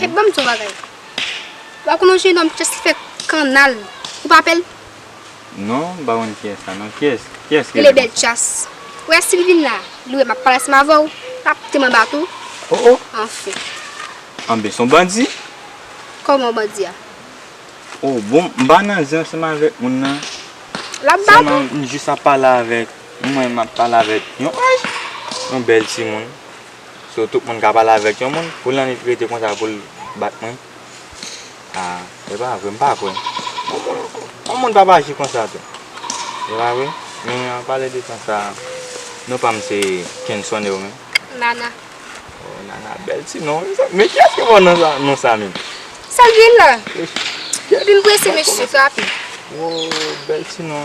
Hey banm di w bagay Wap konn yon jenòm just li fè kannal Ou pa pèl? Non m pa konn kiyès sa non Kiyès kiyès ki rele l konsa? Li rele Belchas Ou wè si l vin la li wè map pale ansanm avè w lap mete m anba tou Oh oh Anfen Anben s on bandi? Kòman w bandi a? Oh bon m pa nan zen ansanm avèk moun nan Lap bat ou? Sèlman m jis ap pale avèk Mwen menm map pale avèk yon anj Yon bèl timoun. So tout moun ka pale avèk yon moun pou lannwit rete konsa poul bat mwen ah e pa vre m pa kwè yon moun pap aji konsa tou e pa vre men an pale de tan sa non pam se kenson e ou menm. Nana. Oh Nana bèl ti non wi sa men kiyès ki ba w non sa menm. Sa l di la. Epi m prese mesye sa tou. Woo bèl ti non.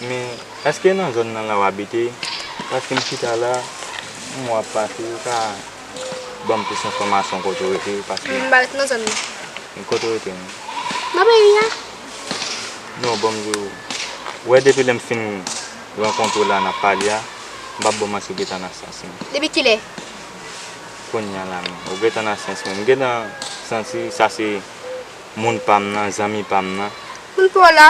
Men eske nan zòn nan la w abite? Paske m chita la, yon mwa ap pase, ou ka ban m plis enfòmasyon kote w rete? Paske. M pa rete nan zòn nan. Men kote w rete menm? Nan peyi a. Non, ban m di w. Ou wè depi lè m fin rankontre w la n ap pale a, m pa bon m ase gentan nan syans mwen. Depi kilè? Kounye a la menm. Ou gentan nan syans menm. M gentan santi sa se moun pa m nan, zanmi pa m nan. Moun pa w la?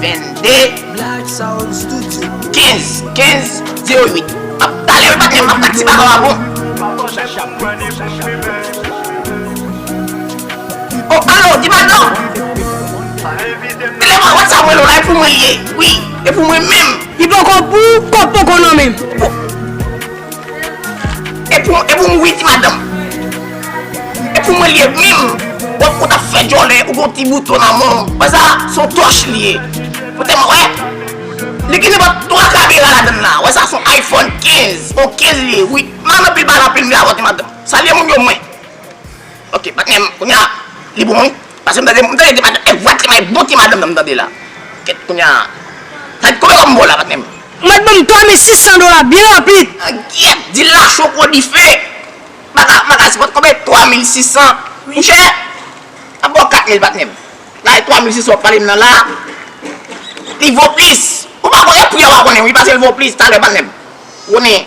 22 15 15 08 Map talèw patnè m map bat ti baka w a bon Oh alo di pardon Telefòn whatsapp mwen lo la e pou mwen l ye wi e pou mwen menm. Li poko pou kòb poko nan menm. E pou mwen wi ti madanm. E pou mwen li ye minm. Wap kout ap fè djòlè ou gon ti bouton nan men w. Wè sa son tòch li ye. Ou te wè. Li gen nenpòt 3 kamera ladan l la. Wè sa son iPhone 15. Son 15 li ye wi. M anpil pale anpil m vle avòte madanm. Salye moun yo mwen. Ok patnèm kounya li bon wi paskem tande m tande ti madanm e vwa ti may bon ti madanm nan m tande la ket kounya sa konbyen wap bo la patnèm. Ou mèt banm 3600 dola byen rapid. An gyèt di la cho kou dife Baka baka se pot konbyen 3600 mouche Map baw 4000 patnèm la e 3600 wap palem nan la li vo plis ou pa konnen pri a wa konnen wi pasel vo plis talè patnèm ou konnen.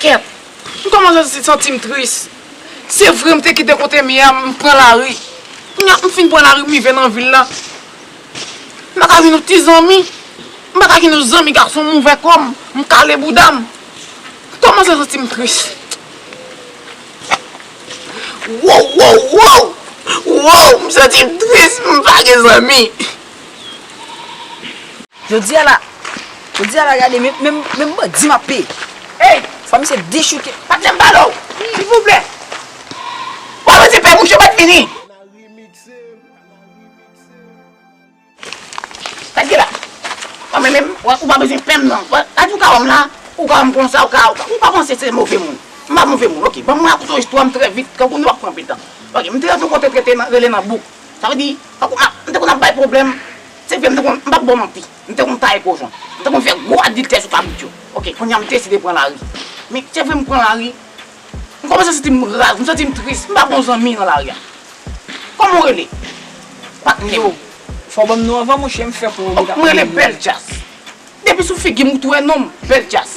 Kèt! M kòmanse santi m tris. Se vre m te kite kote m ye a, m pran lari. Kounye a m fin pran lari m rive nan vil la. M pa ka jwenn yon ti zanmi. M pa ka jwenn yon zanmi gason m ouvè kò m, m kale bouda m. M kòmanse santi m tris. Woww woww woww! Woww! M santi m tris m pa gen zanmi. Jodi a la Jodi a la gade menm menm menm bandi map peye Eyy fwa misye dechouke Patnèm pale w silvouplè Bon nou di pè bouch yo pat vini Sak gen la Bon men menm ou pa bezwen pèm nan Gade ou ka wèm la Ou ka wèm konsa ou ka Ou pa panse se move moun M pa move moun ok Banm rakonte w istwa m trè vit Tankou nou ap pran pitan Ok m te rete yon kote rele nan bouk Sa vle di tankou m te konn ap bay pwoblèm Se vre m te konn, m pa t bon manti, m te konn taye kochon, m te konn fè gwo adiltè sou kabrit yo. Ok, kounye a m deside pran lari. Men, se vre m pran lari, m kòmanse santi m raz, m santi m tris, m pa gon zanmi nan lari a. Kòman ou rele? Patnè m. Fò w ban m non anvan monchè, m fè kò w mèt ap mouye. M rele Bèljaz. Depi sou figi m ou t wè non m, Bèljaz.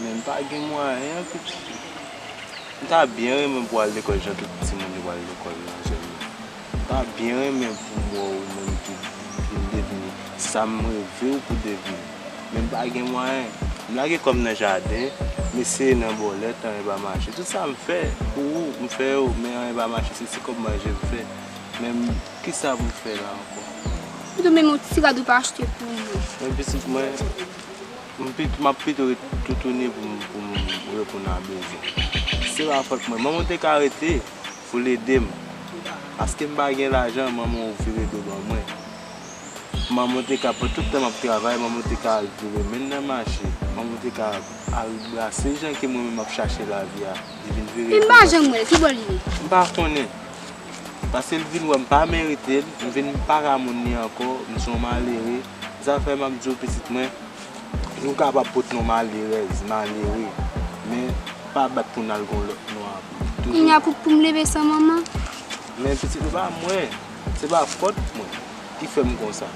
Men m pa gen mwayen an pitit yo. M ta byen renmen pou w al lekòl jan tout timoun yo pral lekòl nan zòn nan. M ta byen renmen pou m wè w ou menm tou vin devni sa m reve w pou devni. Men m pa gen mwayen. M lage kò m nan jaden, m eseye nan bòlèt, anyen pa mache. Tout sa m fè pou ou, m fè yo, men anyen pa mache. Se ti kòb manje m fè. Men kisa pou m fè la ankò? Pito menm yon ti rad ou pa achte pou mwen. Men pitit mwen. M ap pito ret toutouni pou m reponn a bezwen. Se pa fòt mwen. Manman w te ka rete pou l ede m. Paske m pa gen lajan, manman w vire do ban mwen. Manman w te ka pran tout tan m ap travay, manman w te ka al vire men nan mache. Manman w te ka al brase jan ke mwen menm m ap chache lavi a, li vin vire do ban mwen. Pim pa janm wè l, ki bò li ye? M pa konnen. Paske l vin wè m pa merite l, m vin pa ka moun li ankò, m se yon malere. Zafè m ap di w pitit mwen, nou kapab pot non malerèz, malere, men pa bat pou n al gen yon lòt non apre. Toujou. Kounye a pou m leve san manman. Men pitit se pa mwen, se pa fòt mwen ki fè m konsa,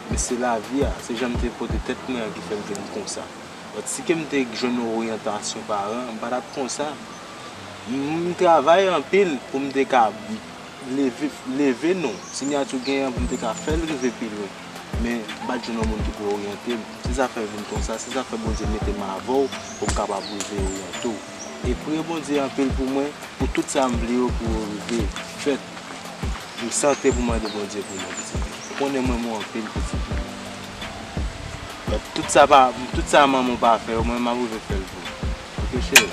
men se lavi a, se jan m te pote tèt mwen an ki fè m vin konsa. Lòt si ke m te jwenn yon oryantasyon paran, m pa t ap konsa. M travay anpil pou m te ka. Leve non, sinyati w genyen an pou m te ka fè l rive pi lwen. Men, m pa t jwenn yon moun ki pou oryante m. Si zafè vin konsa, se zafè Bondye mete m avè w pou m kapab rive oryante w. E priye Bondye anpil pou mwen, pou tout sa m vle yo pou yo rive fèt. M santre pou m mande Bondye pou mwen, pitit mwen. Ou konnen m renmen w anpil, pitit mwen. Tout sa manman w pa fè yo, mwen menm m ap rive fè l pou ou. Oke, cheri?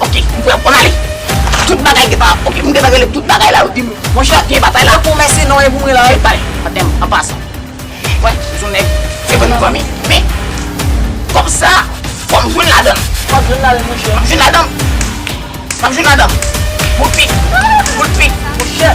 Ok, m pran pou Mali. Tout bagay gen pa. Ok, m gen tan rele tout bagay la, yo di m, monchè, gen batay la. Pou mèsi non e pou mwen la wi. Bay, paten m, an pasan. Mwen, sou nèg, se bon nou fanmi. Men, kòb sa, fò m jwenn ladan l. Fò m jwenn ladan l, monchè. Fò m jwenn ladan l. Fò m jwenn ladan l. Boul pit. Boul pit. Monchè.